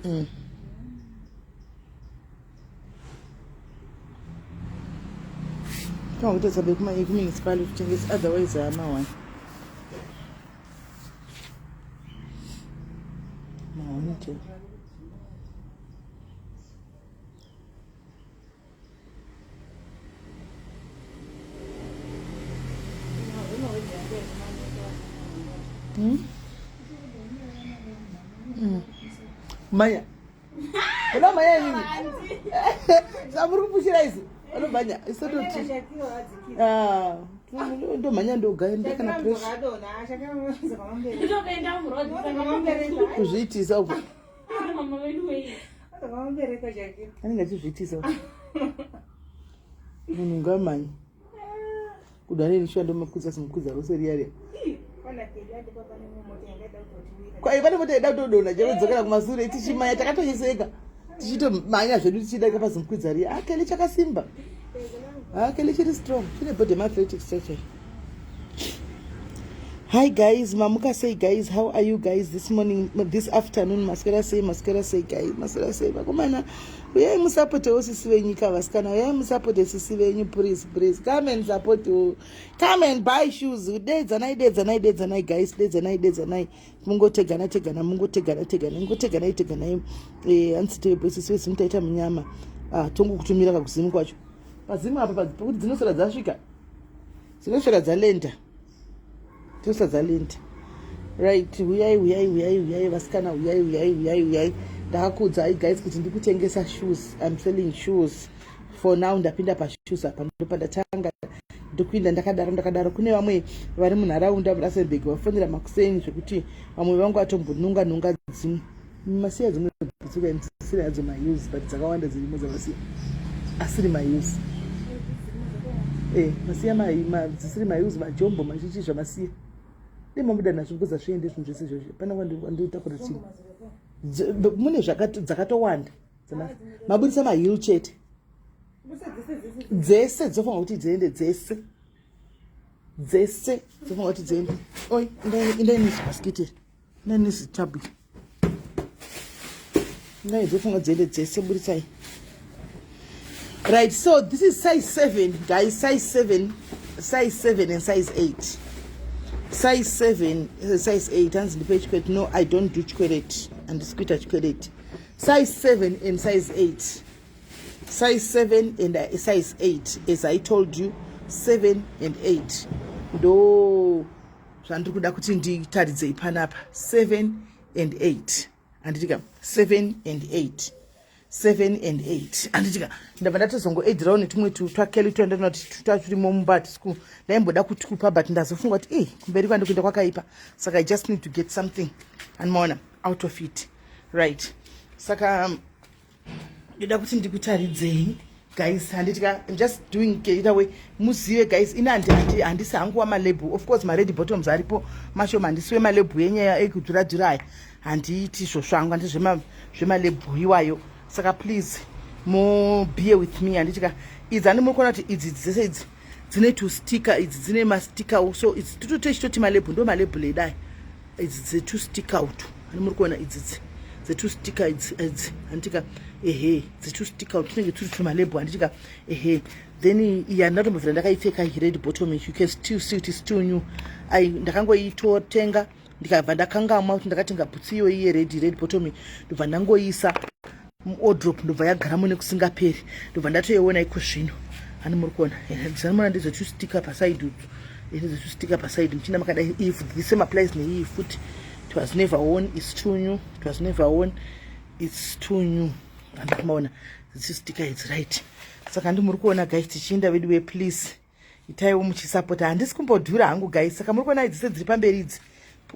Mm. Kama kuita sabe kuma eku municipality kutengesa otherwise hama wani. Maonito. Hmm? Hmm. Maya. Kuna maya nini? Samuri kupushira izi. Anobhanya. Isototi. Ah. ndomhanya ndogaenda kana presskuzviitisa uko anenge achizviitisa munhu ngamani kuda nini shuwa ndomakwidza simukwiza rose riya riya kwai pane mota ida kutodona chero dzokera kumasure tichimanya takatoyeseka tichitomanya zvedu tichiida kapa simukwiza riya akele ah, chakasimba akele ah, chiri strong chine body mathletic structure Hi guys, mamuka say guys, how are you guys this morning, this afternoon, maswera say, maswera say guys, maswera say, vakomana, uyai musapotewo sisi venyu ka vasikana, uyai musapote sisi venyu, please, please, come and support you, come and buy shoes, dedzanai, dedzanai, dedzanai guys, dedzanai, dedzanai, mungotegana, tegana, mungotegana, tegana, mungotegana, tegana, eh, hansi tebe, sisi vesi mutaita munyama, ah, tongo kutumira kakuzimu kwacho, pazimu apa, pakuti dzinosera dzasvika, dzinoswera dzalenda dzinoswera dzalenda right huyai huyai huyai huyai vasikana huyai huyai huyai huyai ndakuudzai guys kuti ndikutengesa shoes im selling shoes for now ndapinda pashoes apa ndopandatanga ndokuinda ndakadaro ndakadaro kune vamwe vari munharaunda murustenburg vafonera makuseni zvekuti vamwe vangu vatombonunga nunga dzimwe masiya dzimwe dzekutsika imusiri hadzo mause but dzakawanda dzirimo dzavasiya asiri mause eh, masiya dzisiri mause majombo machichi zvamasiya imabuda nazvo because azviende zvinhu zvese izvozvo pana kwanditakura chii mune dzakatowanda mabudisa mahil chete dzese dzofunga kuti dziende dzese dzese dzofunga kuti dziende oi indainezvaskitiri nani zitablo ngai dzofunga dziende dzese buritsai right so this is size seven guys size seven size seven and size eight size seven uh, size eight hanzi ndipe chikwereti no i don't do chikwereti handisi kuita chikwereti size seven and size eight size seven and uh, size eight as i told you seven and eight ndo zvandiri kuda kuti nditaridzei panapa 7 and 8 anditika 7 and 8 seven and eight anditika ndabva ndatozongoedirawo netumwe twakeli tuya ndatona kuti twaturimo mumba tisiku ndaimboda kutupa but ndazofunga kuti e kumberi kwandi kuenda kwakaipa saka i just need to get something anmaona out of it right saka um, ndoda kuti ndikutaridzei guys handiti ka im just doing either way muzive guys ini handisi hangu wamalebhu of course mared bottoms aripo mashoma handisi wemalebhu yenyaya ekudzura dzura aya handiiti izvo zvangu handiti zvemalebhu iwayo saka please mo beer with me handiti ka idzi handi muri kuona kuti idzi dzese idzi dzine tusticker idzi dzine masticker so idzi titotochitoti malebhu ndo malebhu ledai idzi dzetu sticker utu hani muri kuona idzi dzi dzetu sticker idzi idzi handitika ehe dzetu sticker utu tinenge turi tumalebho handitika ehe then iyi handatombovira ndakaipfeka hired bottom you can still see kuti still new ai ndakangoitotenga ndikabva ndakangamwa kuti ndakatenga bhutsi iyoyi yered red bottom ndobva ndangoisa muodrop ndobva yagaramo nekusingaperi ndobva ndatoiona iko zvino ani muri kuona zvanomona ndizvachustika pasaidi utu ndizvachustika pasaidi muchina makadai if the same applies neiyi futi it was never one its too new it was never one its too new andikumaona dzichustika its right saka ndi muri kuona guys tichienda veduwe please itaiwo muchisapota handisi kumbodhura hangu guys saka muri kuona idzi sedziri pamberi idzi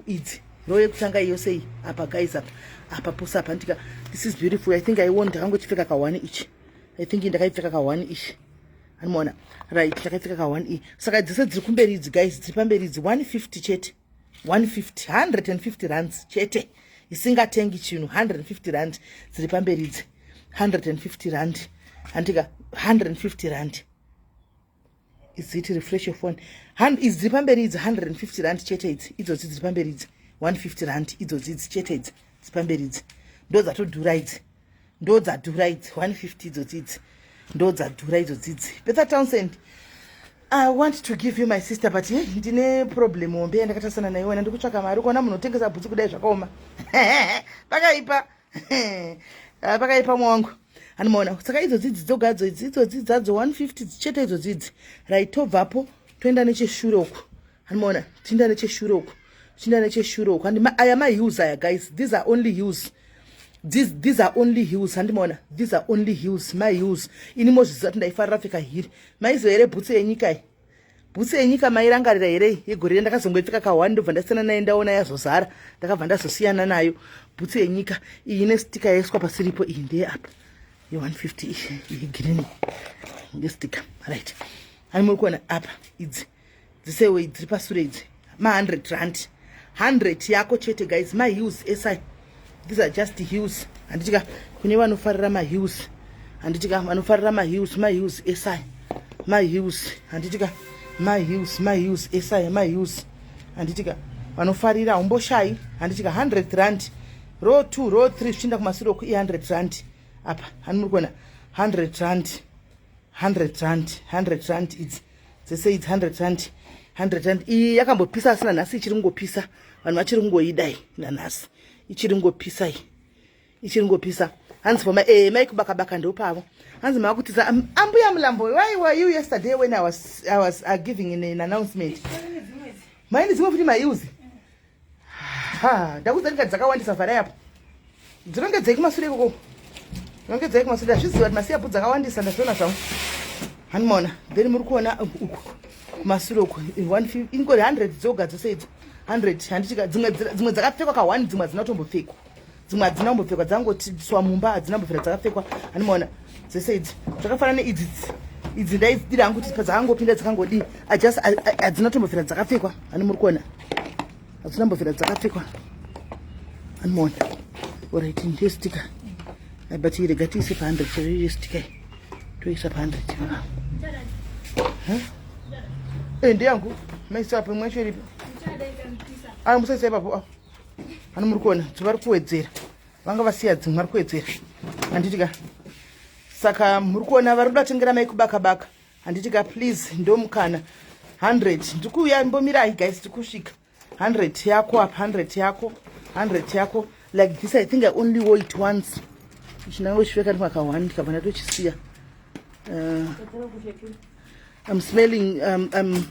idzi roo yekutanga iyo sei apa guys apa apa pose apa ndika this is beautiful i think iwon ndakangotipfeka ka one ichi i think ndakaipfeka ka one ichi animoona right ndakaipfeka ka one e saka dzese dziri kumberi idzi guys dziri pamberi idzi one fifty chete one fifty hundred and fifty rands chete isingatengi chinhu hundred and fifty rand dziri pamberi idzi hundred and fifty rand handika hundred and fifty rand is it refresh your phone Han, idzi dziri pamberi idzi 150 rand chete idzi idzodzi dziri pamberi idzi 150 rand idzodzi idzi chete idzi dziri pamberi idzi ndo dzatodhura idzi ndo dzadhura idzi 150 idzodzi idzi ndo dzadhura idzodzi idzi betha townsend i want to give you my sister but hey, ndine problem hombe yandakatasana nayo wena ndikutsvaka mari ukaona munhu otengesa bhutsu kudai zvakaoma pakaipa Ah, pakaipa mwangu anomaona saka idzodzi idzi dzogadzo idzi idzodzi dzadzo 150 dzichete idzodzi idzi right tobvapo toenda necheshure uku anomaona tiinda necheshure uku tiinda necheshure uku and aya maheels aya guys these are only heels these, these are only heels handimaona these are only heels maheels ini mozviziva kuti ndaifarira pfeka hiri maiziva here bhutsu yenyika iyi bhutsu yenyika mairangarira here yegore ri ndakazongoipfeka kahwani ndobva ndasiyana naye ndaona yazozara ndakabva ndazosiyana nayo bhutsu yenyika iyi ine stika yaiswa pasiripo iyi ndeye apa ye150 iyi girini ngestika right ani muri kuona apa idzi dzisewo dziri pasure idzi ma 100 rand 100 yako chete guys ma heels esai these are just heels handitika kune vanofarira ma heels handitika vanofarira ma heels ma heels esai ma heels handitika ma heels ma heels esai ma heels handitika vanofarira umboshayi handitika 100 rand row 2 row 3 zvichienda kumasure ku 100 rand apa hanimuri kuona 100 rand 100 rand 100 rand idzi dzese idzi 100 rand 100 rand iyi yakambopisa asina nhasi ichiri kungopisa vanhu vachiri kungoidai nanhasi ichiri kungopisa iyi ichiri kungopisa hanzi pama e eh, maikubakabaka ndopavo hanzi maakutiza ambuya mulambo why were you yesterday when i was, I was uh, giving in an announcement maini dzimwe futi maiuzi ha ndakuudza nyika dzakawandisa vharai apo dzinongedzei kumasure ikoko dzinongedzei kumasure ndazviziva kuti masiyapu dzakawandisa ndazviona zvangu hanimona then muri kuona uku kumasure uku ingori hundred dzoga dzose idzo hundred handiti dzimwe dzakapfekwa ka one dzimwe hadzina kutombopfekwa dzimwe hadzina kumbopfekwa dzangotiswa mumba hadzina kumbopfira dzakapfekwa animaona dzese idzi zvakafanana neidzi idzi ndaidira hangu kuti padzakangopinda dzakangodii ajust hadzina tombofira dzakapfekwa ani muri kuona hadzina mbofira dzakapfekwa animaona orit ndiyo stika but irega tiise pa hundred chaiyo stika toisa pa hundred eh, ndiyangu maisa apo imwe yacho iripo a ah, musaisa ipapo a ah. vano muri kuona kuti vari kuwedzera vanga vasiya dzimwe vari kuwedzera handiti ka saka muri kuona vari kuda tengera mai kubaka baka handiti ka please ndomukana 100 ndiri kuuya mbomirai guys tiri kusvika 100 yako apa 100 yako 100 yako like this i think i only wo it once chinange uchipfeka ndi mwaka one ndikabva ndatochisiya uh, i'm smelling um, um,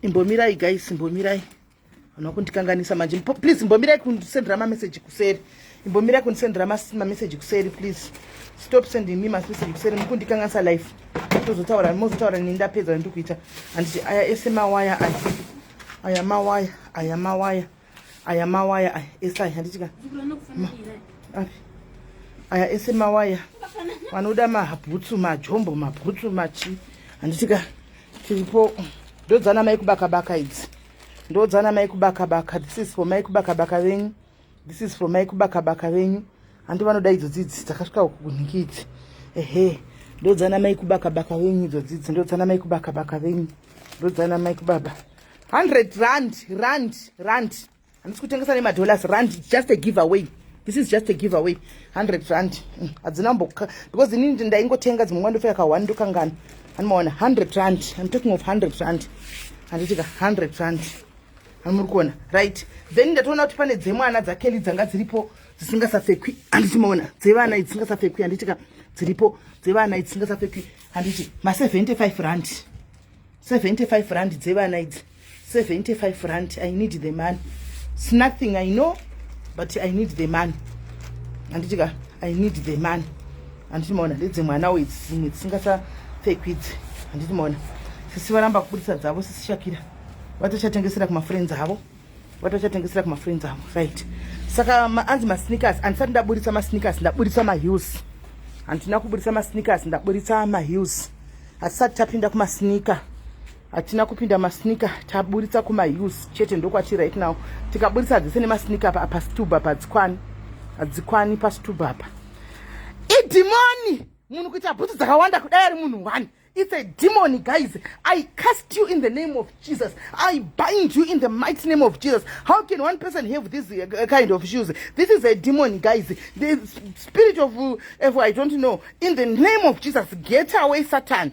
imbomirai guys imbomirai Hona kundikanganisa manje. Please mbomirai kundisendera mamessage kuseri. Mbomirai kundisendera mamessage kuseri please. Stop sending me message kuseri mukundikanganisa life. Tozotaura mozotaura nini ndapedza ndikuita. Anditi aya ese mawaya aya. Aya mawaya, aya mawaya. Aya mawaya aya ese aya handiti ka. Api. Aya ese mawaya. Vanoda mahabhutsu, majombo, mabhutsu, machi. Handiti ka. tiripo ndodzana mai kubaka baka idzi ndodzana mai kubaka baka this is for mai kubaka baka venyu this is for mai kubaka baka venyu handi vanoda idzo dzidzi dzakasvika uku kunhiki idzi ehe ndodzana mai kubaka baka venyu idzo dzidzi ndodzana mai kubaka baka venyu ndodzana mai kubaba 100 rand rand rand handisi kutengesa nemadollars rand just a give away this is just a give away 100 rand mm, hadzina mbo because ini ndaingotenga dzimwe nguva ndofika ka 1 ndokangana anomaona 100 rand i'm talking of 100 rand handiti ka 100 rand amuri kuona right then ndatoona kuti pane dzemwana dzakeli dzanga dziripo dzisingasafekwi handiti maona dzevana idzi dzisingasafekwi handiti ka dziripo dzevana idzi dzisingasafekwi handiti ma 75 rand 75 rand dzevana idzi 75 rand i need the money it's nothing i know but i need the money handiti ka i need the money handiti maona ndedze mwana uye dzimwe dzisingasapfekwi idzi handiti maona sisi varamba kubudisa dzavo sisi shakira vatochatengesera kumafriends avo vatochatengesera kumafriends avo right saka anzi masneakers handisati ndaburitsa masneakers ndaburitsa maheels handina kuburitsa masneakers ndaburitsa maheels hatisati tapinda kumasneaker hatina kupinda masnika taburitsa kumaheels chete ndokwati right now tikaburitsa dzese nemasnika apa pasituba padzikwani hadzikwani pasituba apa idhimoni munhu kuita bhutsu dzakawanda kudai ari munhu one it's a demon guys i cast you in the name of jesus i bind you in the mighty name of jesus how can one person have this uh, kind of shoes this is a demon guys the spirit of uh, if i don't know in the name of jesus get away satan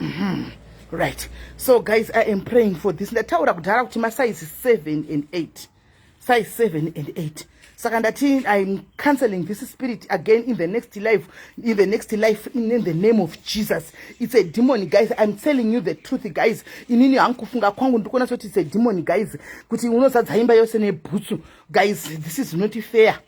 Mhm. right so guys i am praying for this ndataura kudhara kuti masize 7 and 8 size 7 and 8 saka ndati iam cancelling this spirit again in the next life in the next life in the name of jesus its a demon guys iam telling you the truth guys inini hangu kufunga kwangu ndikuona sekuti its a demon guys kuti unozadza imba yose nebhutsu guys this is not fair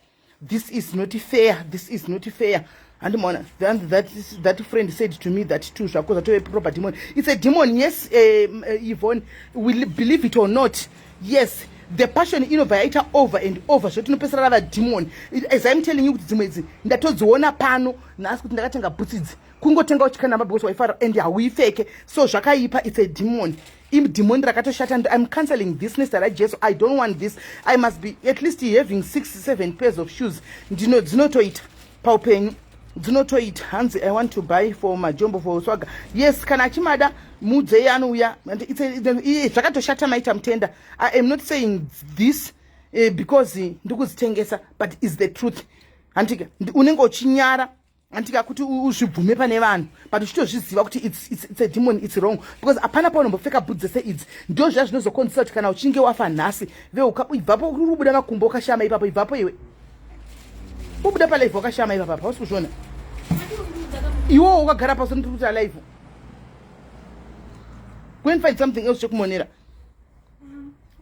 this is not fair this is not fair handimaona that, that, that friend said to me that two zvako zvatove proper demon it's a demon yes um, uh, yvonne will believe it or not yes the passion inobva yaita over and over zvoti inopesera rava demon as im telling you kuti dzimwe idzi ndatodziona pano nhasi kuti ndakatenga bhutsidzi kungotenga uchikana mabhikosi waifara and hauipfeke so zvakaipa it's a demon imdhimoni rakatoshata and im cancelling this nezita rajesu i don't want this i must be at least having six seven pairs of shoes ndino dzinotoita paupenyu dzinotoita hanzi i want to buy for majombo for uswaga yes kana achimada muudzei anouya zvakatoshata maita mutenda i am not saying this uh, because ndikuzitengesa but is the truth hantika unenge uchinyara antika kuti uzvibvume pane vanhu but uchitozviziva kuti it's, it's, it's a demon it's wrong because hapana paunombopfeka bhut dzese idzi ndo zviya zvinozokonzesa kuti kana uchinge wafa nhasi veuka ibvapo ubuda makumbo ukashama ipapo ibvapo iwe ubuda palive wakashama ipapa hausi kuzviona iwowo ukagara pasi notikuti alive go and find something else chekumonera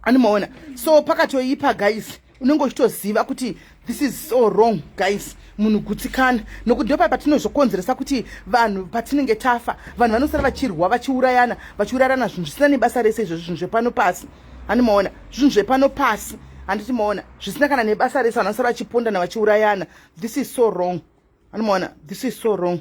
animoona so pakatoipa guys unenge uchitoziva kuti this is so wrong guys munhu gutsikana nokuti ndopa patinozokonzeresa kuti vanhu patinenge tafa vanhu vanosara vachirwa vachiurayana vachiurayana zvinhu zvisina nebasa rese izvozvo zvinhu zvepano pasi animoona zvinhu zvepano pasi handiti moona zvisina kana nebasa rese vanhu vanosara vachipondana vachiurayana this is so wrong animoona this is so wrong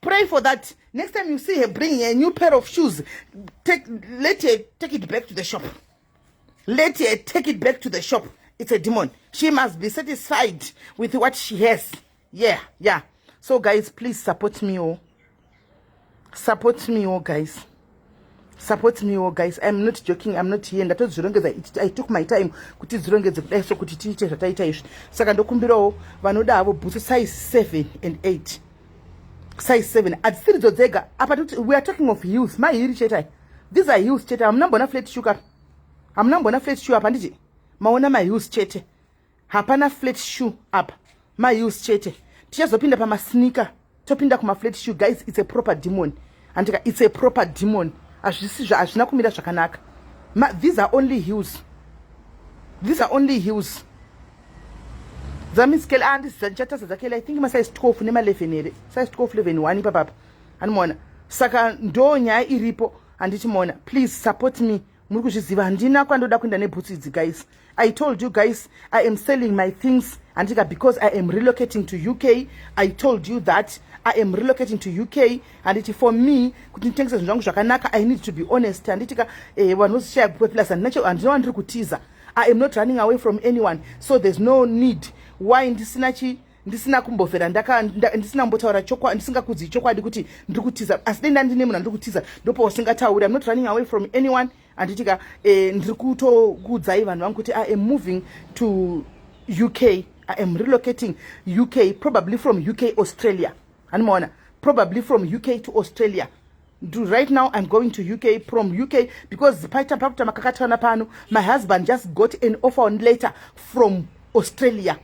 pray for that next time you see her bringing a new pair of shoes take, let her take it back to the shop let her take it back to the shop it's a demon she must be satisfied with what she has yeah yeah so guys please support me oh support me oh guys support me wo guys iam not joking iam not here ndatozvirongedza i took my time kuti dzirongedze kudai so kuti tiite zvataita izvi saka ndokumbirawo vanoda havo bhutsu size seven and eight size seven hadzisiri dzo dzega apa toti weare talking of heels mahiri chetai these are heels chete hamuna mbona flat shuka hamuna mbona flat shuka apa nditi maona maheels chete hapana flat shoe apa maheels chete tichazopinda pamasneaker topinda kumaflat shoe guys its a proper demon handika its a proper demon hazvisi hazvina kumira zvakanaka these are only heels these are only heels dzamiskele ah, andisi dzandichatasa dzakele i think masize 12 nema11 here size 12 11 1 ipapapa animoona saka ndo nyaya iripo handiti mona please support me muri kuzviziva handina kwandoda kuenda nebhutsu idzi guys i told you guys i am selling my things handika because i am relocating to uk i told you that i am relocating to uk handiti for me kuti nditengese zvinhu zvangu zvakanaka i need to be honest handitika eh, vanhu vozishaya kupe plus handina wandiri kutiza i am not running away from anyone so there's no need why ndisina chi ndisina kumbofera ndisina kumbotaura chokwadi ndisingakudzi chokwadi kuti ndiri kutiza asi dai ndandine munhu andiri kutiza ndopo usingatauri im not running away from anyone anditika eh, ndiri kutokuudzai vanhu vangu kuti i am moving to uk i am relocating uk probably from uk australia hanimaona probably from uk to australia Do right now i'm going to uk from uk because paita pakuta makakatana pano my husband just got an offer on later from australia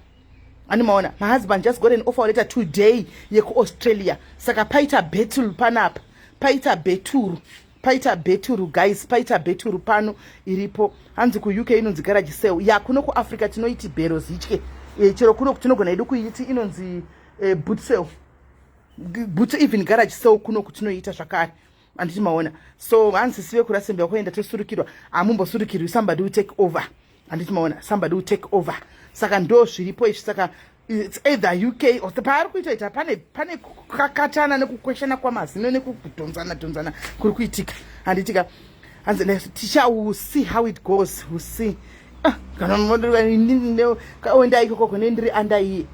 ani maona my husband just got an offer later today yekuaustralia saka paita bettle panapa paita beturu paita beturu guys paita beturu pano iripo hanzi kuuk inonzi garaji sel ya kuno kuafrica tinoiti bhero zitye e, eh, chero kuno tinogona yedu kuiti inonzi e, eh, bootsel butso even garage so kuno kutinoita zvakare anditi maona so hanzi sive kurasembe wakuenda tosurukirwa hamumbosurukirwi somebody will take over anditi maona somebody will take over saka ndo zviripo izvi saka its either uk or paari kuitoita pane pane kukakatana nekukweshana kwamazino nekudhonzana dhonzana kuri kuitika handitika hanzi ticha will see how it goes will see ah, kana moenda ikoko kune ndiri andaiye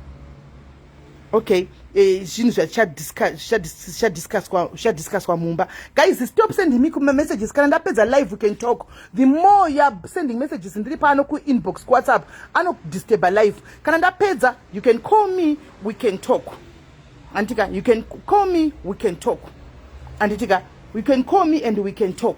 okay eh, zvinhu zvatichadiscusswa mumba guys stop sending me messages kana ndapedza live we can talk the more youare sending messages ndiri pano kuinbox kuwhatsapp anodisturba live kana ndapedza you can call me we can talk anditika you can call me we can talk anditika you can call me and we can talk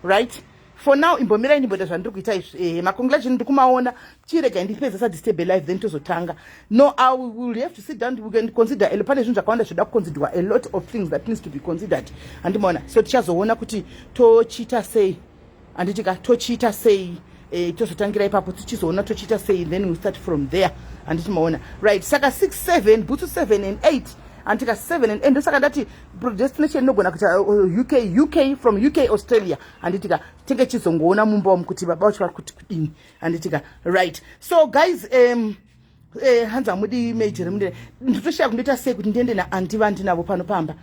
right for now imbomirai ndimboita zvandiri kuita izvi eh, macongratulation ndiri kumaona chirega ndipedza sadisturbe life then tozotanga no i will have to sit down we can consider elo pane zvinhu zvakawanda zvinoda kuconsiderwa a lot of things that needs to be considered handimaona so tichazoona kuti tochiita sei handiti ka tochiita sei eh, tozotangira ipapo tichizoona tochiita sei then we start from there handiti maona right saka 6 7 bhutsu 7 and 8 antika 7 and ndosaka ndati predestination inogona kuita uh, uk uk from uk australia handitika tenge chizongoona mumba wamu kuti baba vacho vari kuti kudini handitika right so guys um, Eh, hanzi hamudi major mune nditoshaya kundoita sei kuti ndiende naandi vandinavo pano pamba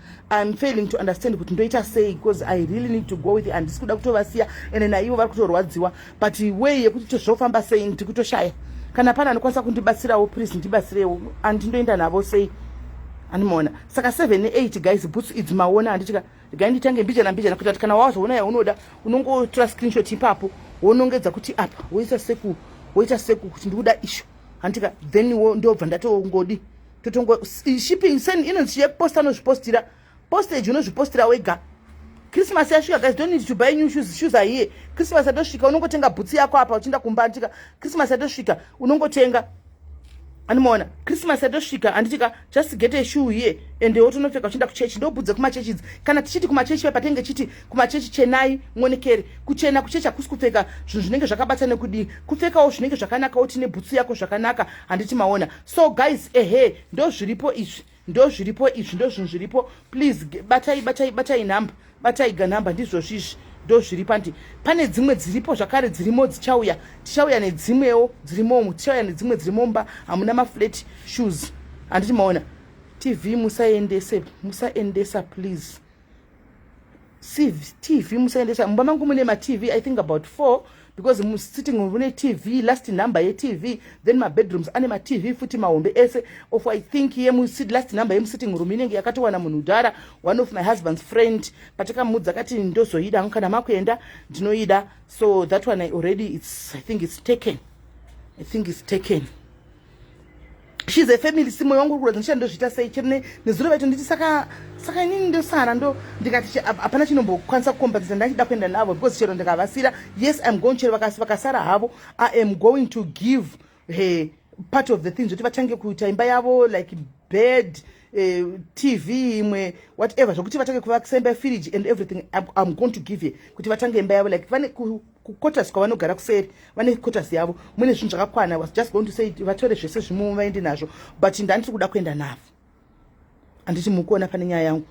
im failing to understand kuti ndoita sei because i really need to go with and ndisi kuda kutovasiya ende naivo vari kutorwadziwa but way yekuti tozvofamba sei ndiri kutoshaya kana pane anokwanisa kundibatsirawo please ndibatsirewo andindoenda navo sei animoona saka 7 8 guys boots idzi maona handitika regai nditange mbijana mbijana kuita kuti kana wazoona yaunoda unongotora screenshot ipapo wonongedza kuti apa woisa seku woita seku kuti ndikuda isho handitika then wo ndobva ndatongodi totongo shipping sen inonzi yeposta anozvipostira postage unozvipostira wega christmas yasvika guys don't need to buy new shoes shoes are here christmas yatosvika unongotenga bhutsi yako apa uchienda kumba handitika christmas yatosvika unongotenga animoona christmas yatosvika handiti ka just get a shoe here ende wotonopfeka uchienda kuchechi ndobudze kumachechi idzi kana tichiti kumachechi pai patenge chiti kumachechi chenai muonekere kuchena kuchechi hakusi kupfeka zvinhu zvinenge zvakabata nekudii kupfekawo zvinenge zvakanaka woti nebhutsu yako zvakanaka handiti maona so guys ehe ndozviripo izvi ndozviripo izvi ndozvinhu zviripo please batai batai batai nhamba batai ganhamba ndizvozvi izvi ndozviripo andi pane dzimwe dziripo zvakare dzirimo dzichauya tichauya nedzimwewo dzirimomu tichauya nedzimwe dzirimomba hamuna maflat shoes handiti maona tv musaendese musaendesa please tv musaendesa mumba mangu mune matv i think about four because musitting room mune tv last number yetv then mabedrooms ane matv futi mahombe ese of i think yemusit last number yemusitting room inenge yakatowana munhu udhara one of my husband's friend patakamuudza akati ndozoida hangu kana makuenda ndinoida so that one I already it's, i think it's taken i think it's taken she's a family si moyo wangu uri kuratidza ndichati ndozviita sei chero nezuro vaito nditi saka saka inini ndosara ndo ndikati hapana chinombokwanisa kukombenzesa ndachida kuenda navo because chero ndikavasira yes im going chero vakasara havo i am going to give her part of the things kuti vatange kuita imba yavo like bed eh, tv imwe whatever zvokuti vatange kuvakisa imba yefiriji and everything im going to give her kuti vatange imba yavo like vane kuquarters kwavanogara kuseri vane quarters yavo mune zvinhu zvakakwana was just going to say vatore zvese zvimo vaende nazvo but ndandiri kuda kuenda navo handiti mukuona pane nyaya yangu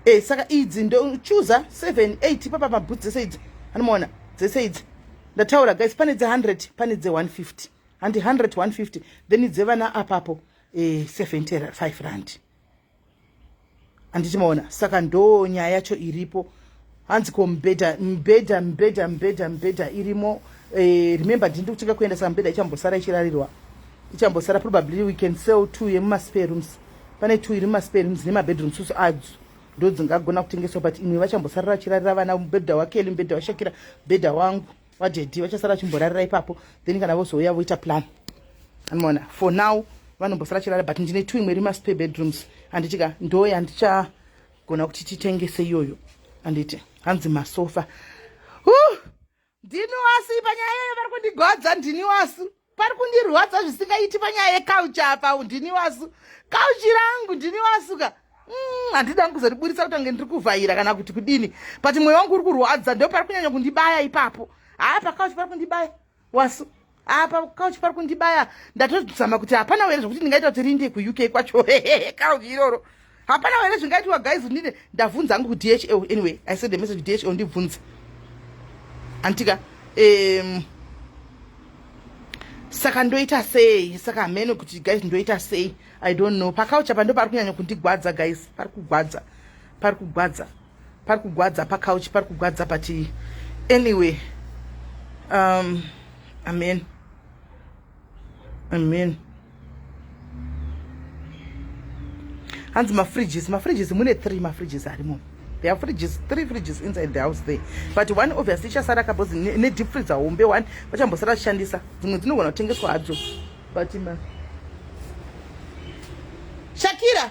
e saka idzi ndochuza seven eight ipapa mabhutsi dzese idzi anomaona dzese idzi ndataura guys pane dze hundred pane dze one fifty handi hundred one fifty then dzevana apapo e eh, seventy five randi handiti maona saka ndo nyaya yacho iripo hanzi ko mbhedha mbhedha mbhedha mbhedha mbhedha irimo eh, remember ndini ndi kutenga kuenda saka mbhedha ichambosara ichirarirwa ichambosara probably we can sell two yemumaspare rooms pane two iri mumaspare rooms nemabedroom susu adzo ndo dzingagona kutengeswa but imwe vachambosarira vachirarira vana mubhedha wakeli mubhedha washakira mubhedha wangu vadedi vachasara vachimborarira ipapo then kana vozouya voita plan anomaona for now vanombosara chirara but ndine two imwe iri maspare bedrooms anditika ndoye andichagona kuti titengese iyoyo anditi hanzi masofa ndini wasu panyaya iyoyo vari kundigodza ndini wasu pari kundirwadza zvisingaiti panyaya yekauchi apa ndini wasu kauchi rangu ndini wasuka mm, handida mm, kuzoriburitsa kuti ange ndiri kuvhaira kana kuti kudini but mweya wangu uri kurwadza ndo pari kunyanya kundibaya ipapo haa pakauchi pari kundibaya wasu apa kauchi pari kundibaya ndatozama kuti hapana were zvekuti ndingaita kuti rinde kuuk kwacho kauchi iroro hapana here zvingaitiwa guys ndine ndavhunza hangu kudhl anyway i send a message kudhl ndibvunze antika um, saka ndoita sei saka hameno kuti guys ndoita sei i don't know pakaucha pando pari kunyanya kundigwadza guys pari kugwadza pari kugwadza pari kugwadza pakauchi pari kugwadza pati anyway um amen Amen. Hanzi mafridges, mafridges mune three mafridges arimo. There are fridges, three fridges inside the house there. But one obviously ichasara kabhozi ne deep freezer hombe one vachambosara kushandisa. Dzimwe dzinogona kutengeswa hadzo. But ma Shakira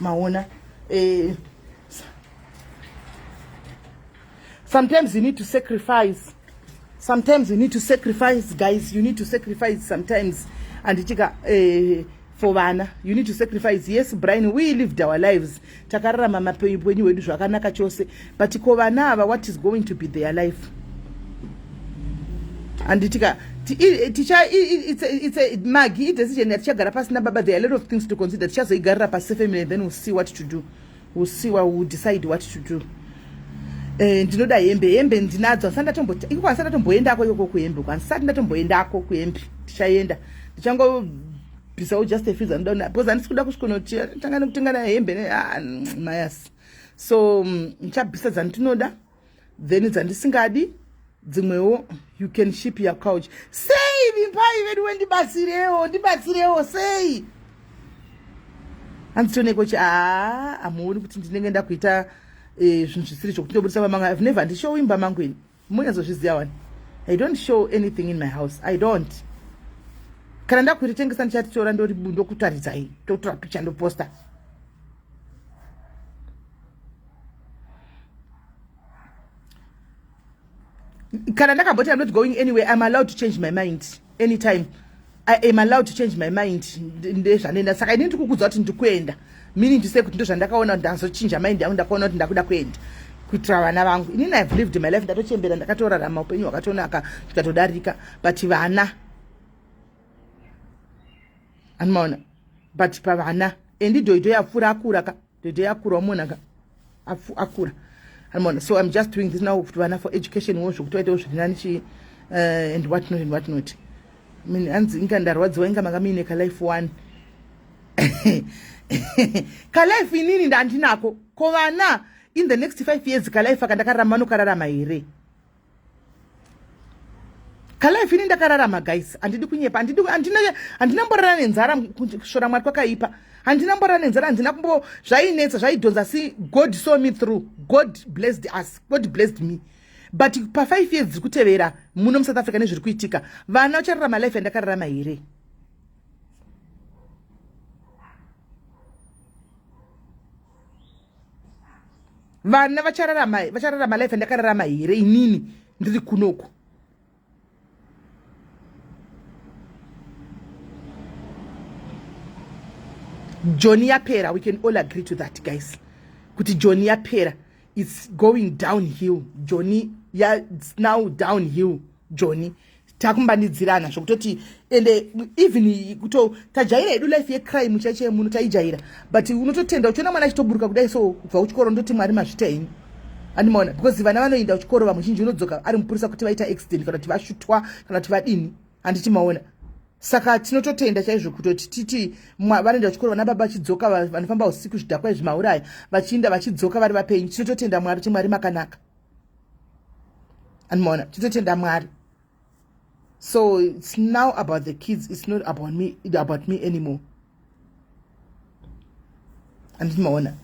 maona eh, sometimes you need to sacrifice sometimes you need to sacrifice guys you need to sacrifice sometimes anditika eh, for vana you need to sacrifice yes brian we lived our lives takararama mapenyu hwedu zvakanaka chose but ko vana ava what is going to be their life handitika magi idecision yatichagara pasi nababa there are a lot of things to consider tichazoigarira pasi sefamily then we'll see what to do we'll see what we'll decide what to do eh, ndinoda hembe hembe ndinadzo handisati ndatomboti ikoko handisati ndatomboendako ikoko kuhembe uko handisati ndatomboendako kuhembe ndichaenda ndichango bhisawo just a fees anoda because handisi kuda kusvikonotia tanga nekutengana hembe ne ah, mayasi so mm, ndichabvisa dzandinoda then dzandisingadi dzimwewo you can ship your couch sei vimbai vedu wendibatsirewo ndibatsirewo sei handitoneko chi aa amuoni kuti ndinenge ndakuita eh, zvinhu zvisiri zvokuti ndobudisa pamanga i've never ndishowimba mangu ini Munyatsozviziva wani. I don't show anything in my house. I don't. Kana ndakuti tengesa ndichati tora ndori ndokutaridzai totora picture ndoposta. Kana ndakabota I'm not going anywhere. I'm allowed to change my mind. anytime i am allowed to change my mind ndezvanoenda saka ini ndikukudza kuti ndikuenda meaning to say kuti ndozvandakaona kuti ndazochinja mind yangu ndakaona kuti ndakuda kuenda kuitira vana vangu inini ive lived my life ndatochembera ndakatorarama upenyu hwakatonaka tikatodarika but vana anomaona but pavana endi dhoidho yapfuura akuraka the day akura umonaka akura anmona so im just doing this now kuti vana for education wo zvokuti vaitewo zviri nani chii uh, and what not and what not min hanzi inga ndarwadziwa inga manga muine kalife one kalife inini ndandinako ko vana in the next five years kalife akandakararama vanokararama here kalife ini ndakararama guys handidi kunyepa handina mborara nenzara kushora mwari kwakaipa handina mborara nenzara handina kumbo zvainetsa zvaidhonza si god saw me through god blessed us god blessed me but pafive years dziri kutevera muno musouth africa nezviri kuitika vana uchararama life yandakararama here vana vachararama vachararama life ndakararama here inini ndiri kunoku joni yapera we can all agree to that guys kuti joni yapera its going down hill joni ya now down hill joni takumbanidzirana zvokutoti ende even kuto tajaira hedu life yecrime chaicho yemuno taijaira but unototenda uchiona mwana achitoburuka kudai so kubva kuchikoro ndoti mwari mazvita henyu andimaona because vana vanoenda kuchikoro vamwe zhinji unodzoka ari mupurisa kuti vaita accident kana kuti vashutwa kana kuti vadini handiti maona saka tinototenda chaizvo kutoti titi vanoenda kuchikoro vana baba vachidzoka vanofamba usiku zvidhakwa izvi mauraya vachiinda vachidzoka vari vapenyu tinototenda mwari kuti mwari makanaka andimaona titotenda mwari so its now about the kids its not about me, about me anymore andimaona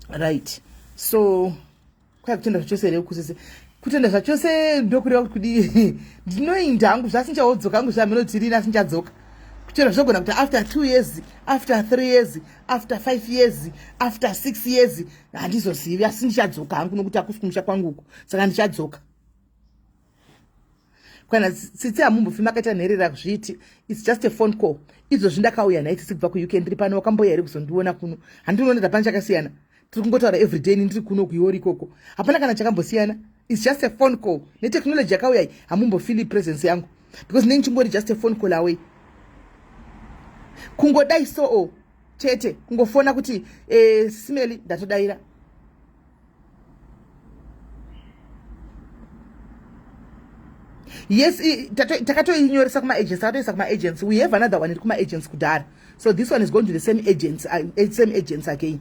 right so kwai kutenda zvachose here kusese kutenda zvachose ndokureva kuti kudii ndinoinda hangu zvasinchaodzoka hangu zvahameno kuti rini asinchadzoka chero zvogona kuti after two years after three years after five years after six years handizozivi asi ndichadzoka hangu nokuti akusi kumusha kwangu uku saka ndichadzoka kana tsitsi hamumbofi makaita nherera kuzviti its just a phone call izvozvi ndakauya nhai tsitsi kubva kuuk ndiri pano wakamboya here kuzondiona kuno handinoona ndapana chakasiyana tiri kungotaura everyday ni ndiri kuno kuiori ikoko hapana kana chakambosiyana its just a phone call netechnology yakauyai hamumbofili presence yangu because nei ndichingori just a phone call away kungodai soo chete kungofona kuti eh, smeli ndatodaira yes takatoinyoresa kumaagents takatoisa kumaagents we have another one iri kumaagents kudhara so this one is going to the same agents uh, eh, same agents again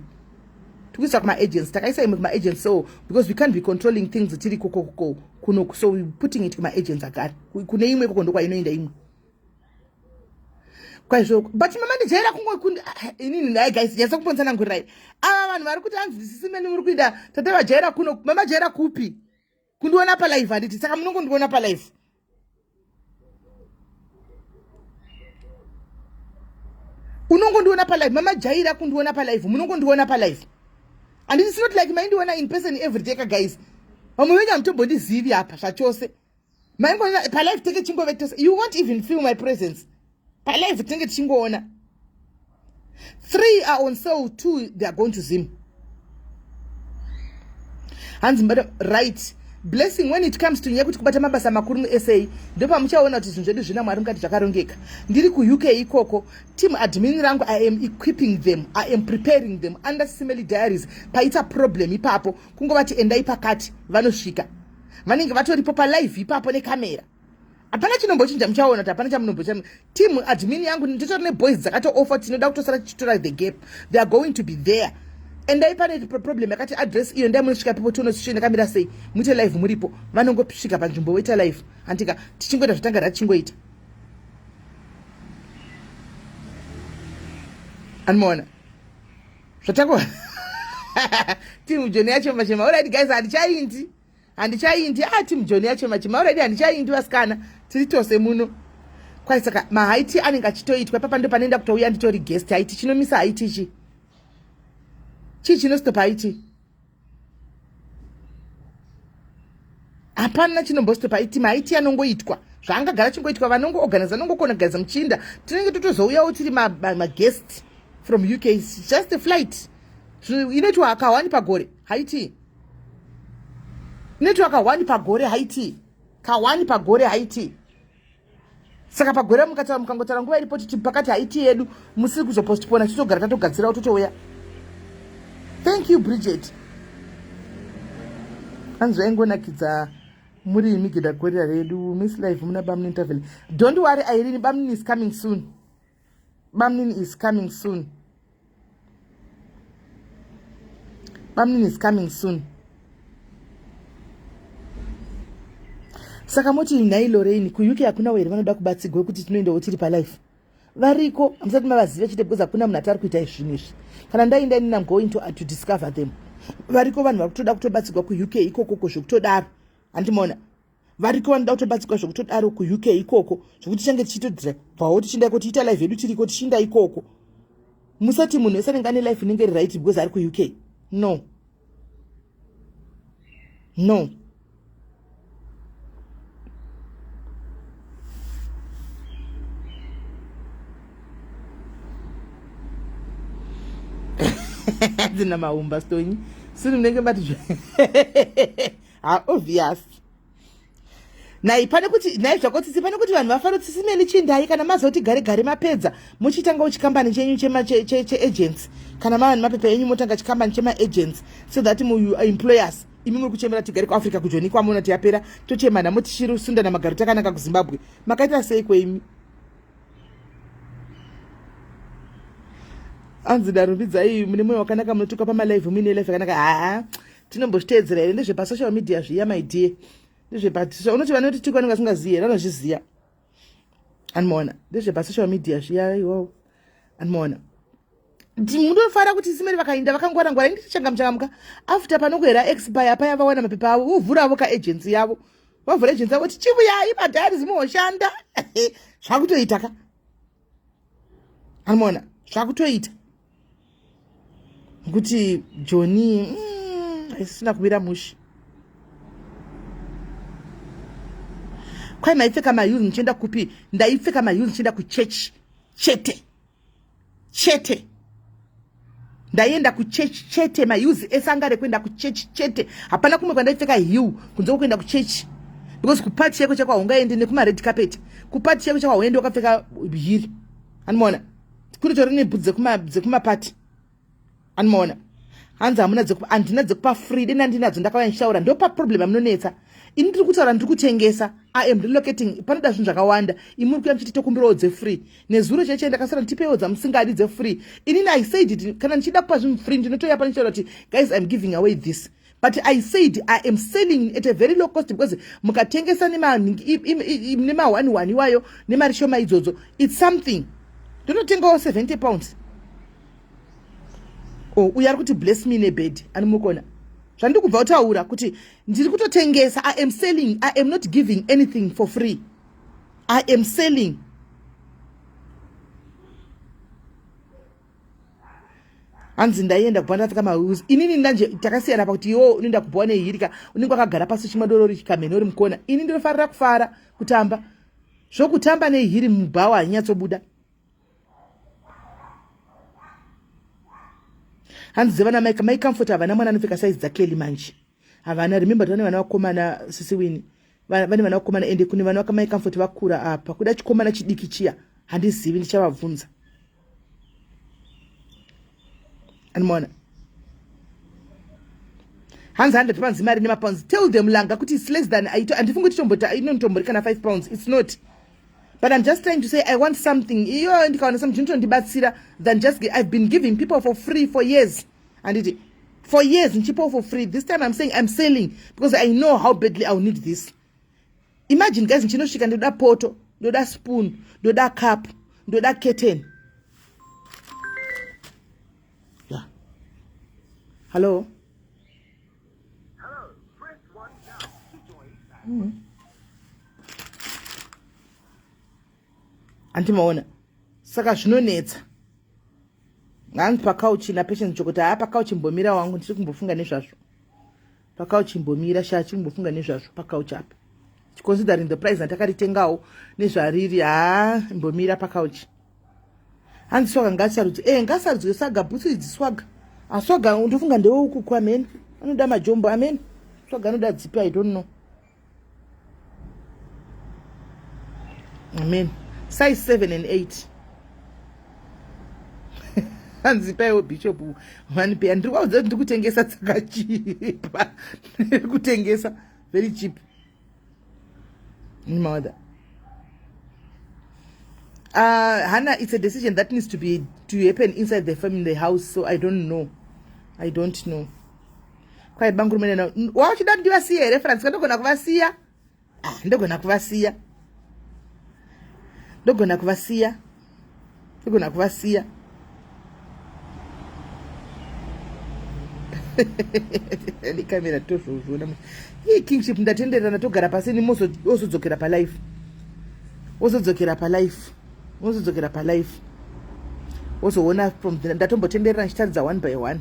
tikuisa kumaagents takaisa imwe kumaagents so because we can't be controlling things tiri kokoko kuno so we putting it kumaagents agare kune imwe koko ndokwainoenda imwe kwaizvoko but mama ndijaira kungokundi ah, inini nhai guys yasa kuponesa nangurirai ava vanhu vari kuti hanzi sisi meni muri kuita tate vajaira kuno mama jaira kupi kundiona palive handiti saka munongondiona palive unongondiona palive mama jaira kundiona palive munongondiona palive handiti sinoti like maindiona in person everyday ka guys vamwe venyu hamutombondizivi apa zvachose maingoona palive tenge chingove tose you won't even feel my presence palive tenge tichingoona three are on sale two they are going to zim hanzi madam right blessing when it comes to nyaya kuti kubata mabasa makuru musa ndopamuchaona kuti zvinhu zvedu zvina mwari mukati zvakarongeka ndiri kuuk ikoko team admin rangu i am equipping them i am preparing them under simely diaries paita problem ipapo kungovati endai pakati vanosvika vanenge vatoripo palive ipapo nekamera hapana chinombochinja muchaona kuti hapana chamunombochinja team admin yangu nditori neboys dzakatoofa tinoda kutosara tichitora the gap they are going to be there endai pane problem yakati address iyo ndai munosvika pipo tione situation yakamira sei muite live muripo vanongosvika panzvimbo woita live handika tichingoita zvatanga rachingoita anomaona zvatako team joni yachema chema already guys handichaindi handichaindi ah team joni yachema chema already handichaindi vasikana tiri tose muno kwai saka mahaiti anenge achitoitwa papa ndo panoenda kutouya nditori guest haiti chinomisa haiti chi chii chinostopa haiti hapana chinombostopa aiti maiti anongoitwa zvaangagara chingoitwa vanongoorganiza anongokona kugariza muchinda tinenge totozouyawo tiri maguest ma, ma from uk just a flight inoitwa akawani pagore haiti inoitwa kawani pagore haiti kawani pagore haiti saka pagwera mukataura mukangotaura nguva iripo titi pakati haiti yedu musiri kuzopostpona titogara tatogadzirawo totouya thank you bridget hanzi vaingonakidza muri imigida gorira redu miss live muna bamnintervel don't worry airini bamnin is coming soon bamnini is coming soon bamnini is coming soon saka moti nhai loreini kuuk hakunawo here vanoda kubatsigwa kuti tinoendawo tiri palife variko hamusati mavaziva chete because hakuna munhu atari kuita izvinhu izvi kana ndainda inini am going to, uh, to discover them variko vanhu vari kutoda kutobatsigwa kuuk ikokoko zvekutodaro handimoona variko vanoda kutobatsirwa zvekutodaro kuuk ikoko zvekuti tichange tichitodira bvawo tichienda iko tiita life yedu tiriko tichiinda ikoko musati munhu wese anenge ane life inenge iri right because ari kuuk no no dzina maumba stonyi siri munenge mati ha obvious nai pane kuti nai zvako tsitsi pane kuti vanhu vafaro tsitsi meni chindai kana mazoti gare gare mapedza muchitanga uchikambani chenyu cheagents kana mava nemapepa enyu motanga chikambani chemaagents so that muemployers imi muri kuchemera tigare kuafrica kujoni kwamona tiyapera tochema nhamo tichiri sunda namagaro takanaka kuzimbabwe makaita sei kweimi anzi darumbidzai mune moyo wakanaka munotuka pamalive muine life yakanaka haa tinombozviteedzera here ndezvepasocial media zviya maidie ndezvepasocial unoti vanoti tiko anenge asingazivi here anozviziva animoona ndezvepasocial media zviya iwo animoona munofanira kuti simeri vakainda vakangwara ngwara indi tichangamuchangamuka after panokuhera expire paya vawana mapepa avo vovhuravo kaagency yavo vavhura agency yavo tichivuyai madhari zimoshanda zvakutoita ka amona zvakutoita kuti joni mm, haisisina mm, kuvira mushi kwai maipfeka maheels muchienda kupi ndaipfeka maheels muchienda kuchechi chete chete ndaienda kuchechi chete mauzi ese anga ari kuenda kuchechi chete hapana kumwe kwandaipfeka hill kunze kwekuenda kuchechi because kupati chaiko chako haungaendi nekumared carpet kupati chaiko chako hauendi wakapfeka hiri anomaona kuri tori nebhudzi dzekumapati anomaona hanzi hamuna handina dzekupa free deni andinadzo ndakauya ndichitaura ndopa problem amunonetsa ini ndiri kutaura ndiri kutengesa iam relocating panoda zvinhu zvakawanda imuri kuya muchiti tokumbirawo dzefree nezuro chaiche ndakasara nditipeiwo dzamusingadi dzefree inini i said it kana ndichida kupa zvinhu free ndinotoya pane chitaura kuti guys im giving away this but i said i am selling at a very low cost because mukatengesa nemahwani hwani iwayo nemari shoma idzodzo its something ndonotengawo 70 pounds o oh, uyo ari kuti bless me nebed anomukona zvandiri kubva kutaura kuti ndiri kutotengesa i am selling i am not giving anything for free i am selling hanzi ndaienda kupa ndapfeka mahuzi inini ndanje takasiyana pakuti iwo unoenda kupa wane hirika unenge wakagara pasi chimwe dorori chikamheni uri mukona ini ndinofarira kufara kutamba zvokutamba nehiri mubhawa hanyatsobuda hanzi dzevana maika maicomfort havana mwana anopfeka saizi dzakelly manje havana remember tavane vana vakomana sisi wini vane vana vakomana ende kune vana vakamai comfort vakura apa kuda chikomana chidiki chiya handizivi ndichavabvunza animoona hanzi handati panzi mari nemapounds tell them langa kuti its less than aito andifungi kuti tombota inonitombori kana five pounds its not but i'm just trying to say i want something iyo ndikawana something ndinotondibatsira than just i've been giving people for free for years handiti for years ndichipawo for free this time i'm saying i'm selling because i know how badly iwill need this imagine guys ndichinosvika ndoda poto ndoda spoon ndoda cup ndoda curtain yeah. hallo mm -hmm. andimaona saka zvinonetsa nganzi pakauchi napatience chokuti haa pakauchi mbomira wangu ndiri kumbofunga nezvazvo pakauchi mbomira shaa chiri kumbofunga nezvazvo pakauchi apa chiconsidering the price andakaritengawo nezvariri haa mbomira pakauchi hanzi swaga ngasarudzwe e eh, ngasarudzwe saga bhutsu idzi swaga aswaga ah, ndofunga ndeweukuku amene anoda majombo amene swaga anoda dzipi i don't know amen size 7 and 8 hanzi paiwo bishop mani peya ndiri kwaudza kuti ndikutengesa dzakachipa ndiri kutengesa very cheap mother uh, ah, hana it's a decision that needs to be to happen inside the family house so i don't know i don't know Kwai banguru munena. Wauchida kuti vasiye here Francis? Ndogona kuvasiya. Ah, ndogona kuvasiya. Ndogona kuvasiya. Ndogona kuvasiya. Ni camera tozvozvona. Hii kingship ndatenderana togara pasi ni ozodzokera pa life. Ozodzokera pa life. Ozodzokera pa life. Ozoona from ndatombotendera ndichitaridza one by one.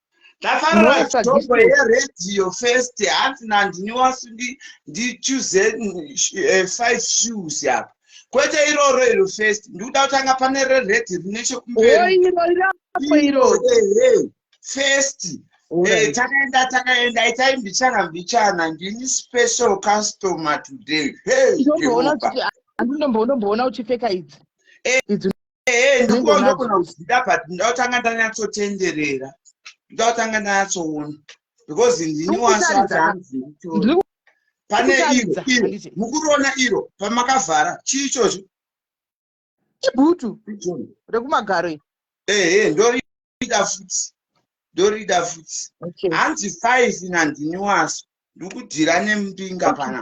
Ndafara stop radio first hanzi nandini wasu ndi choose eh, five shoes apa. Kwete iroro iro first ndikuda kutanga pane re red rine chokumberi. Oh iro iro apo iro. Eh, eh. First eh, takaenda takaenda itai mbichana mbichana ndini special customer today. Hey, Jehovah. Andino mboona uchipfeka idzi. Eh. Idzi ehe ndiko ndogona kuzvida but ndakutanga ndanyatsotenderera ndakutanga ndanyatsoona because ndini wasaanzi pane iro iro mukuroona iro pamakavhara chii ichozvo ibhutu rekumagaro ehe ndorida futi ndorida futi hanzi five nandini waso ndikudhira nemumbinga pana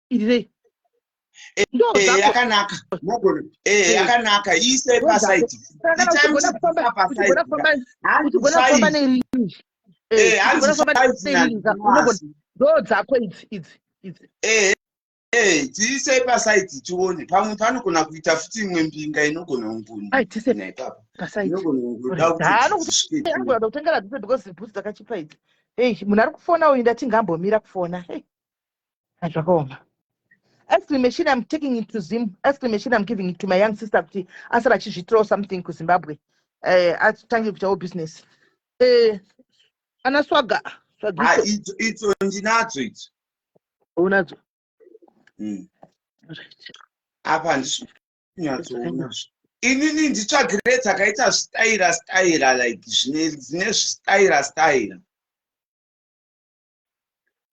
irirei yakanaka mogona yakanaka iisei pasaiti ndodzako idzi idzi idzi Hey, tiise pasaiti tione pamwe panogona kuita futi imwe mbinga inogona ungunaanokutengera dzese because bhutsu dzakachipa idzi hey munhu ari kufona uyu ndati ngambomira kufona hey Ah, zvakaoma ice cream machine i'm taking it to zim ice cream machine i'm giving it to my young sister kuti asara achizviitirawo something kuzimbabwe eh, atange kuitawo business eh, ana swaga Ah, swagiso itso itso ndinadzo itso unadzo Mm. apa handisi kunyatsoona inini nditsvagire dzakaita zvitaira staira like zvine dzine zvitaira staira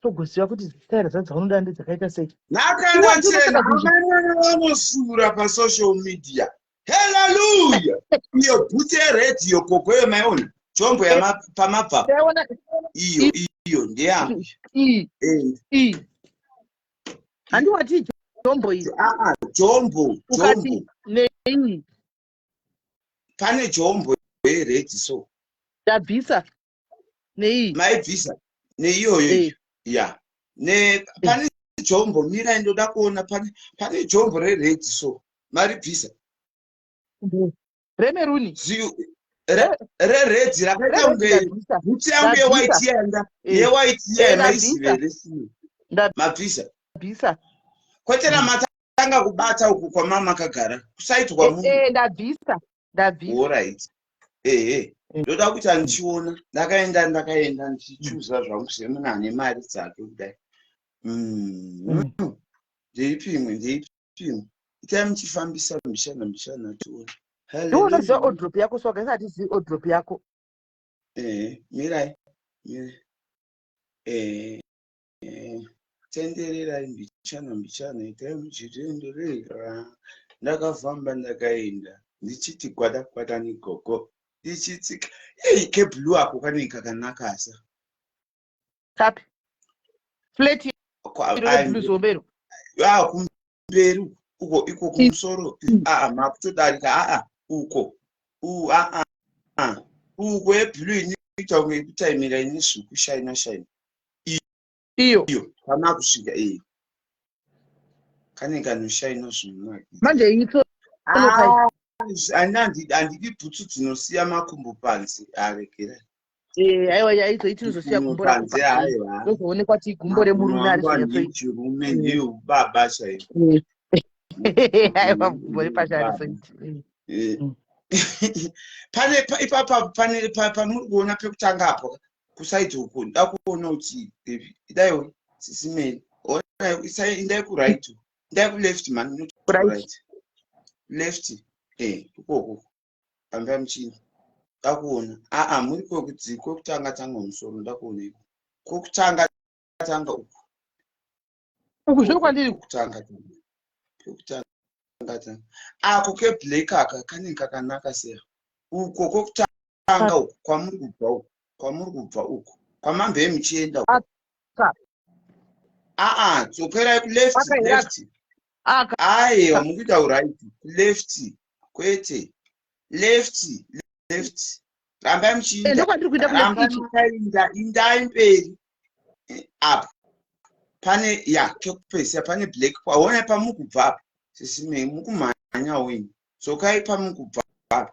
togoziva kuti zitaira dza dzaunoda ndedzakaita sei nhakana chena amai vanosura pasocial media haleluya iyo bhutsi yeredhiyo koko yemaiona chombo pamabva iyo iyo ndeyangu handiwati chombo iyo chombo chombo nei pane chombo yeredhi so ndabvisa nei maibvisa neiyoyo hey. ya yeah. ne pane jombo mira ndoda kuona pane pane jombo rered so maribvisa remeruni reredzi rakaita kunge bhutsu yangu yewhite yanga eh. yewhite yamaisivere eh, mabvisa bvisa kwete namatanga kubata uku kwamama akagara kusaitwa eh, munhu ndabvisa ndabvisa orit ehe mm. ndoda kuti andichiona ndakaenda ndakaenda ndichichuza zvangu semuna ane mari dzake kudai mm. mm. ndeipi imwe ndeipi imwe itai muchifambisa mishana mishana tione ndiunoziva odrop yako soka isati zii odrop yako ehe mirai ehe Eh, tendererai mbichana mbichana itai muchitenderera ndakafamba ndakaenda ndichiti kwada kwada negogo ndichitsika ei keblue ako kanenge kakanakasa Kapi. Flat iro reblue zihombe iro. Ah, kum- kumberi uko iko kumusoro mm. aa ah, makutodarika aa ah, uko u aa ah, uko yeblue inoita kunge yekutaimira ine svuku shaina shaina iyo iyo kana kusvika iyo kane kanoshaina zvinhu manje ito andidi bhutsu dzinosiya makumbo panze aregerai Eh, aiwa yaizoiti uzosiya gumbo raozoonekwa ti gumbo remurume arichirume eh. ndiyo baba chaiyo eh. aiwa gumbo repasha arizoiti eh. mm. pane ipapa pane pamuri kuona pekutanga apo kusaidi uku nda kuona kuti idai sisimei indai kuright indai kuleft man left eh ikoko Pambira muchini. Ndakuona. Aa muri kwekudzi kwekutanga tanga musoro ndakuona iko. Kwekutanga tanga uku. Uku zviri kwandiri kutanga tanga. Kwekutanga tanga. Ako ke black aka kane kakanaka seya. Uko kwekutanga uku kwamuri kubva uku. Kwamuri kubva uku. Kwamambe muchienda uku. aa dzokerai kuleft left aiwa mukuita uright left kwete left left rambai muchiindainda indai mberi eh, apa pane ya kekupedzisa pane black paona pamukubva apa sisi mukumhanya wenyu dzokai pamukubva apa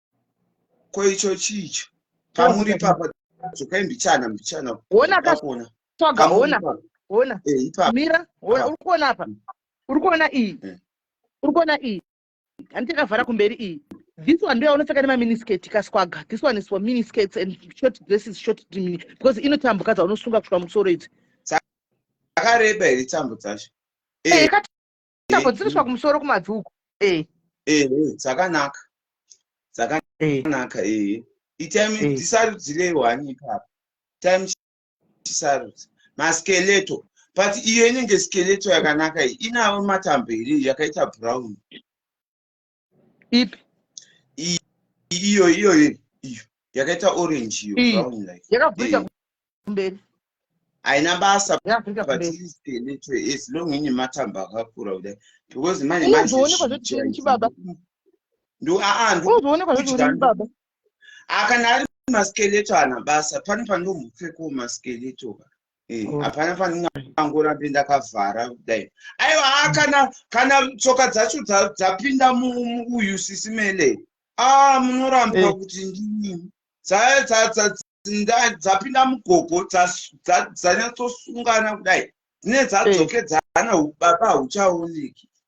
ko icho chicho pamuri papa dzokai mbichana mbichana ona kaona tsvaga ona ona eh, mira ona uri kuona apa mm. uri kuona iyi eh. uri kuona iyi hanti yakavhara kumberi iyi this one ndoya unopfeka nemaminisketi kaswaga this one is for miniskets and short dresses short dimini because inotambuka dzaunosunga kusvika musoro idzi dzakareba here tambo dzacho eh, Tambo dziri kusvika kumusoro kumabvi uko. Eh. Eh, eh dzakanaka. Dzakanaka eh. eh. Itime eh. tisarudzirei wani ipapo. Time tisarudze. Maskeleto. But iyo inenge skeleto yakanaka iyi. Inawo matambo here yakaita brown. ipi iyo iyo iyo yakaita orange iyo brown like yakabvita kumberi haina basa as long ine matambo akakura kudai because manje manjeonekwa zvetiinchi baba ndoaandoonekwa zvetiinchi baba akana ari maskeleto ana basa pane pandombopfekawo maskeleto ka Eh, oh. hapana pandingangora ndi ndakavhara kudai aiwa ha ah, kana kana tsoka dzacho dzapinda muuyu sisi mele a ah, munorambwa eh. kuti ndii dzapinda mugogo dzanyatsosungana kudai dzine dzadzokedzana eh. baba hauchaoneki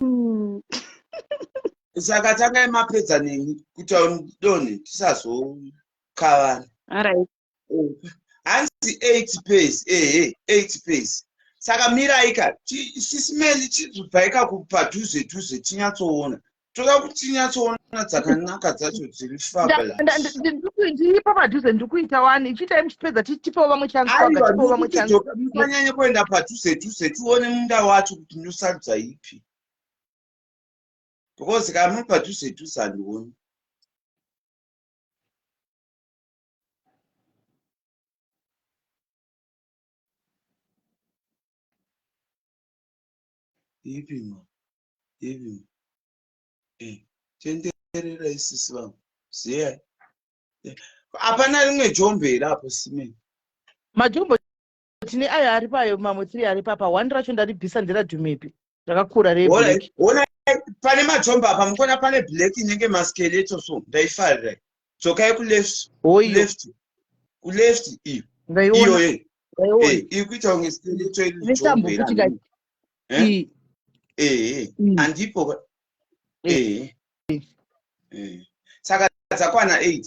Hmm. saka tangai mapedza neni kuti donhe tisazokavana hanzi eight pace ehe eight pace saka miraika sisimeli chizvibvaika padhuze dhuze tinyatsoona toda kuti tinyatsoona dzakanaka dzacho dziri fabulasiipa padhuze ndiri kuita wani ichiitai muchipedza tipewo vamwe chansanyanya kuenda padhuze dhuze tione munda wacho ndosarudza ipi because kana muri padhuze dhuze handioni ipi ma ipi ma eh, tenderera isisi vangu ziyai eh, hapana rimwe jombo here apo simeni majombo tine ayo ari payo mamwe three ari papa one racho ndaribvisa ndiradhumepi rakakura reblack ona pane matombo apa mukuona pane black inenge maskeleto so ndaifarira dzokai kuleft kuleft kuleft iyo iyoye iri kuita kunge skeleto iriombeeee eh? eh, mm. andipo eh. saka dzakwana eight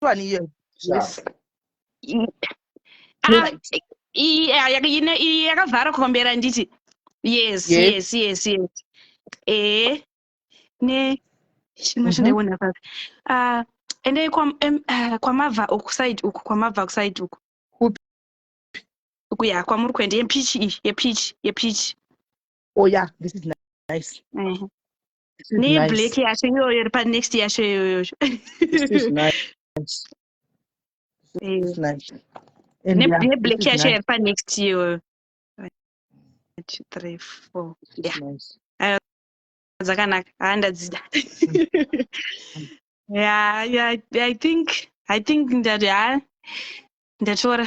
one year yes ah, iyi yakavhara kombera nditi yes yes yes yes ee eh, ne chimwe mhm. chandaiona papi ah, endai ah, kwamabva uku side uku kwamabva kuside uku uku ya kwamuri kuenda yepichi iyi yepichi yepichi oh yeah this is nice mhm. neblack yacho iyoyo iri panext yacho iyoyo neblack yacho iri panext iyoyo dzakanaka haa ah, ndadzida ya i think i think ndati haa ah, ndatora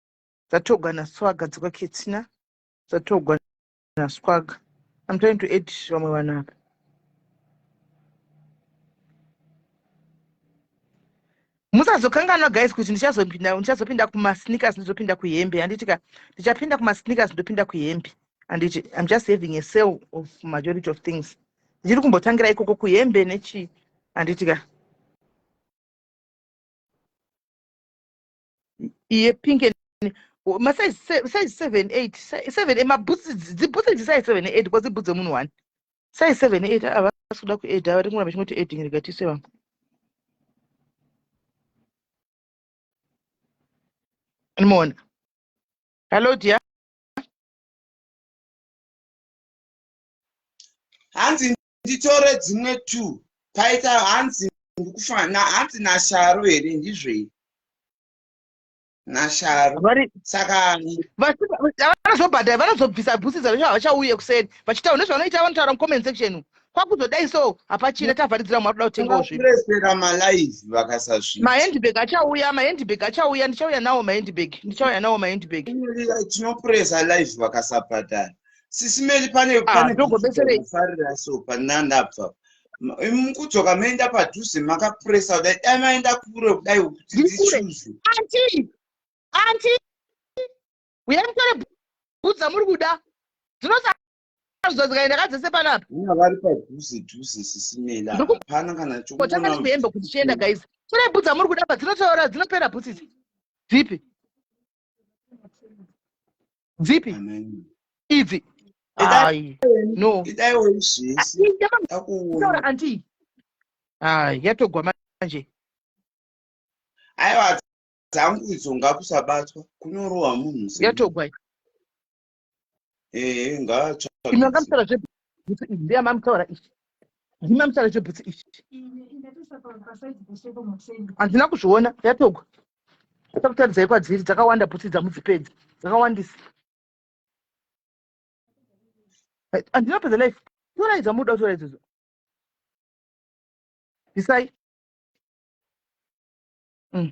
Dzatogwa naswaga dzikwa ketsina. Dzatogwa naswaga. I'm trying to add vamwe vanhu apa. musazokanganwa guys kuti ndichazopinda ndichazopinda kumasneakers ndizopinda kuhembe handiti ka ndichapinda kumasneakers ndopinda kuhembe handiti im just having a sale of majority of things ndichiri kumbotangira ikoko kuhembe nechii handiti ka iye pink and masize size seven eight seven mabhutsi dzibhutsi dzisize seven eight because dzibhutsi dzemunhu one size seven eight havasi ah, kuda kuedha vari kungoramba chingoti edhing rega tise vamwe ndimoona hallo dia hanzi nditore dzimwe two paita hanzi ndikufana hanzi nasharo here ndizvei nasharo saka vanozobhadhara vanozobvisa bhusi dzavo havachauye kuseni vachitaura nezvavanoita vanotaura mucomment section kwakuzodai so hapachina tavharidzira mari kuda kutengawo zvinhuresera malive vakasasvika mahandbag achauya mahandbag achauya ndichauya nawo mahandbag ndichauya nawo mahandbag tinopuresa live vakasabhadhara sisi meli pane panefarira ah, so pandandabva mukudzoka maenda padhuze makapuresa kudai dai maenda kure kudai kuti dzichuzu anti anti uyai mutore bhutsu dzamuri kuda dzinosazodzikaenda ka dzese panapa ina vari padhuze dhuze sisi meli hapana kana chokotanga ndikuhembe kuti chienda guys tore bhutsu dzamuri kuda pa dzinotaura dzinopera bhutsu idzi dzipi dzipi idzi ai no taura anti ai yatogwa manje aiwa dzangu idzo ngakusabatwa kunorohwa munhu yatogwa ehe ngaatsvaimamtaura zvebhutsu iyi ndeya mamtaura ichi ndii mamtaura zvebhutsu ichi handina kuzviona yatogwa takutaridzai kwadziri dzakawanda bhutsu dzamudzipedzi dzakawandisa handina pedza life torai dzamuda kutora idzodzo bisai mm.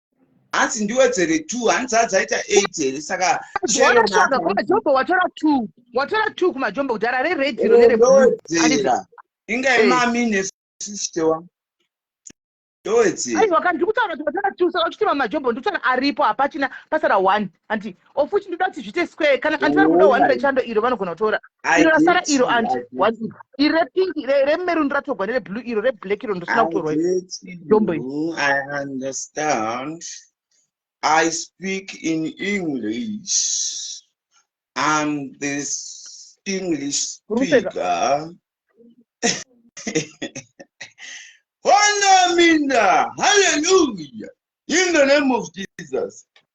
hanzi ndiwedzere two hanzi hanzi aita eight here saka sheyonajombo watora two watora two kumajombo kudhara reredziro nereoedzera inga imami nesisitewa ndoedzeaiwa kani ndikutaura kuti watora two saka uchitema majombo ndikutaura aripo hapachina pasara one anti of which ndoda kuti zviite square kana anti vari kuda one rechando iro vanogona kutora iro rasara iro anti iri repink remerun ratogwa nereblue iro reblack iro ndosina kutorwa dombo I speak in English. I'm this English speaker. Hallelujah. In the name of Jesus.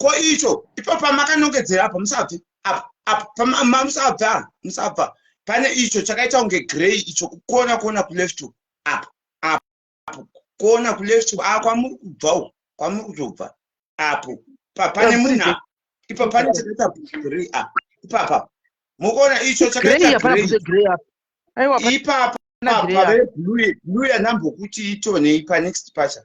ko icho ipapo pamakanongedzera apa musabve apa apa pamusabva musabva pane icho chakaita kunge grey icho kukona kuona kuleft apa apo apo kuona kuleft a ah, kwamuri kubva uko kwamuri kuzobva apo pane munhu ipapo pane chakaita grey a ah, ipapa mukuona icho chakaita grey ipapa pave blue blue yanambokuti itonei panext pacha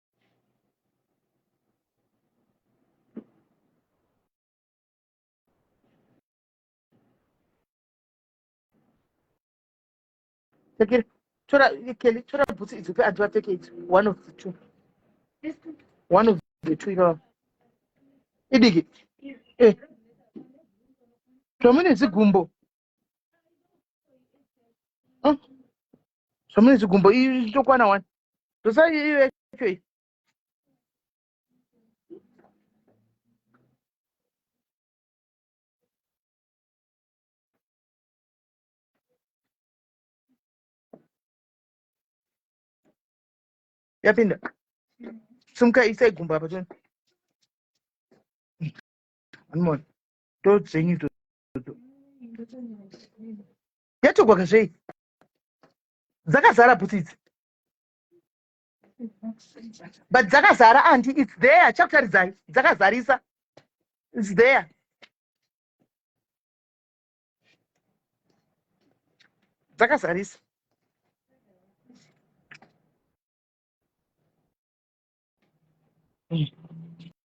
Take tora Kelly, tora bhutsu idzo pe anti vapfeke idzo. One of the two. One of the two ivava. Idiki. Eh. Zvamune zigumbo. Mm. zvamune zvigumbo izvi zvichokwana wani zvosai iyo yacho iyi yapinda simuka isai gumbo apa toni anmon to dzenyu to yatogwaka zvei dzakazara bhutsu idzi but dzakazara andi its there chakutaridzai dzakazarisa its there dzakazarisa mm.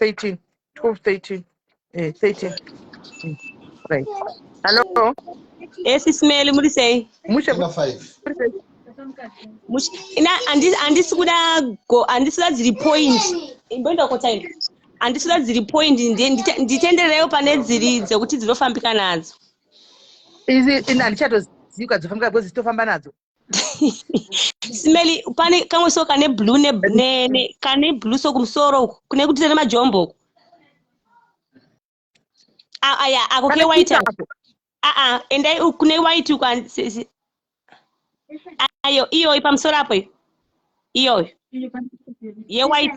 13 12 13 eh 13 mm. right hello esisimeli muri sei mushe andisi kuda andisi kuda dziri point imboenda kotaina andisi kuda dziri point nditenderereyo pane dziri dzekuti dzinofambika nadzo izi ini handichatozika dzofambika because dzitofamba nadzo smeli pane kamwe so kane blue ne, ne, ne kane blue so kumusoro uku kune kuti tene majombo uku ah, aya ah, ako ke white aa endai kune white uku ayo iyoyo pamusoro apo iyoyo ye white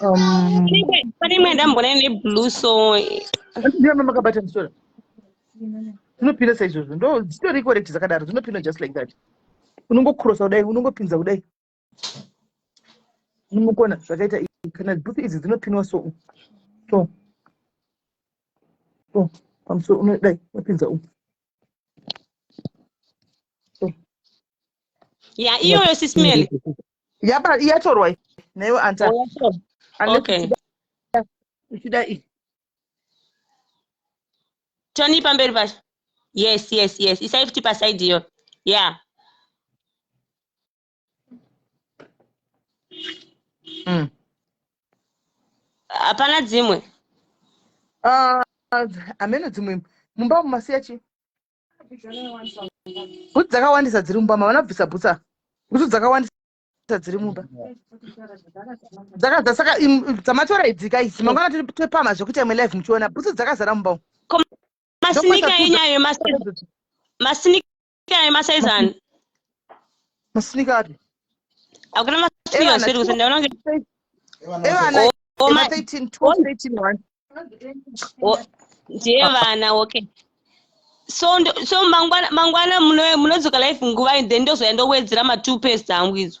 um, pane imwe yandambona ine blue so ndiama makabata musora dzinopinda saizvozvo ndo dzitori correct dzakadaro dzinopinda just like that unongokrosa kudai unongopinza kudai unomukona zvakaita kana booth idzi dzinopinwa so so so pamusoro unodai wapinza umu ya iyoyo sismele yaba iyatorwa newe anta okay uchida iyi toni pamberi pacho yes yes yes isai futi pasaidi iyo yeah mm. hapana dzimwe ah, hameno dzimwe mumba mumasiya chii bhutsu dzakawandisa dziri mumba mavana bvisa bhutsa bhutsu dzakawandisa dziri mumba dzakadza saka dzamatora idzika idzi mangwana topama zvekuti amwe live muchiona bhutsu dzakazara mumba masinika enyayo masinika ayo masaizani masinika api hakuna masinika zviri kusendaona evana 13 12 13 1 ndiye vana okay so so mangwana mangwana munodzoka life nguvai then ndozouya ndowedzera matwo past hangu idzo